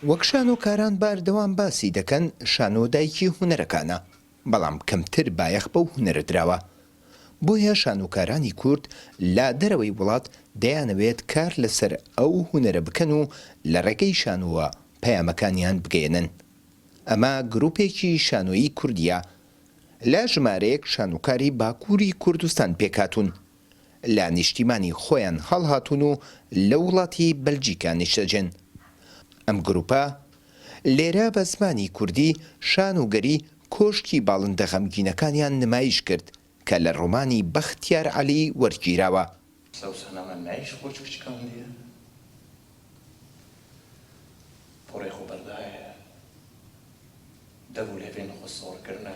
وەک شانۆکاران باردەوام باسی دەکەن، شانۆ دایکی هونەرەکانە، بەڵام کەمتر بایەخ بەو هونەرە دراوە. بۆیە شانۆکارانی کورد لە دەرەوەی وڵات دەیانەوێت کار لەسەر ئەو هونەرە بکەن و لە ڕێگەی شانۆوە پەیامەکانیان بگەیەنن. ئەمە گروپێکی شانۆیی کوردییە لە ژمارەیەک شانۆکاری باکووری کوردستان پێکهاتوون. لە نیشتیمانی خۆیان هەڵهاتوون و لە وڵاتی بەلجیکا نیشتەجێن. ئەم گرووپە لێرە بە زمانی کوردی شان و گەری کۆشکی باڵندە غەمگینەکانیان نمایش کرد کە لە ڕۆمانی بەختیار عەلی وەرگیراوە. سوسن من نایش خوش کچکم دیه پوڕێ خو بردایه دەبوو لێبێن خو سۆڕ گرنە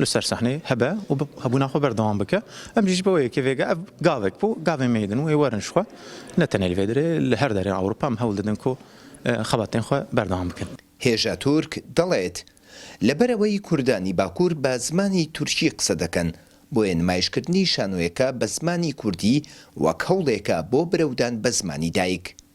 لەسەر سەحنێ هەبە و هەبوونا خۆ بەردەوام بکە ئەمژیش بەوەیە کە ڤێگا ئەڤ گاڤێک بوو گاڤێ مەیدن و ئێوارن شخوا نەتەنێل ڤێدرێ لە هەر دەرێ ئەوروپام هەوڵ دەدن کۆ خەباتێن خۆ بەردەوام بکەن. هێژا تورک دەڵێت، لەبەرئەوەی کوردانی باکوور بە زمانی تورکی قسە دەکەن، بۆیە نمایشکردنی شانۆیەکە بە زمانی کوردی وەک هەوڵێکە بۆ برەودان بە زمانی دایک.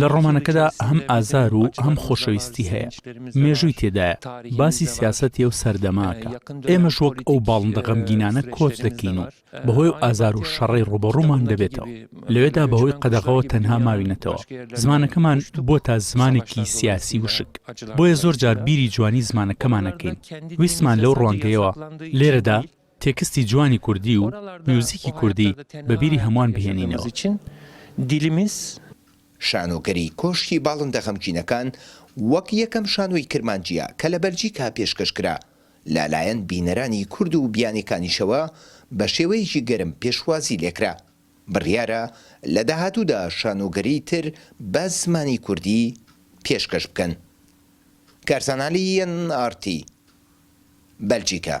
لە ڕۆمانەکەدا هەم ئازار و هەم خۆشەویستی هەیە، مێژووی تێدایە، باسی سیاسەتی ئەو سەردەمەکە، ئێمەش وەک ئەو باڵندە غەمگینانە کۆچ دەکەین و بەهۆی ئەو ئازار و شەڕەی ڕووبەڕوومان دەبێتەوە، لەوێدا بەهۆی قەدەغەوە تەنها ماوینەتەوە، زمانەکەمان بووەتە زمانێکی سیاسی وشک، بۆیە زۆر جار بیری جوانی زمانەکەمان نەکەین، ویستمان لەو ڕوانگەیەوە لێرەدا تێکستی جوانی کوردی و میوزیکی کوردی بە بیری هەمووان بهێنینەوە. شانۆگەری کۆشکی باڵندە غەمگینەکان وەک یەکەم شانۆی کرمانجییە کە لە بەلجیکا پێشکەش کرا، لەلایەن بینەرانی کورد و بیانییەکانیشەوە بە شێوەیەکی گەرم پێشوازی لێکرا. بڕیارە لە داهاتوودا شانۆگەریی تر بە زمانی کوردی پێشکەش بکەن. کارزانالی ئێن ئاڕ تی. بەلجیکا.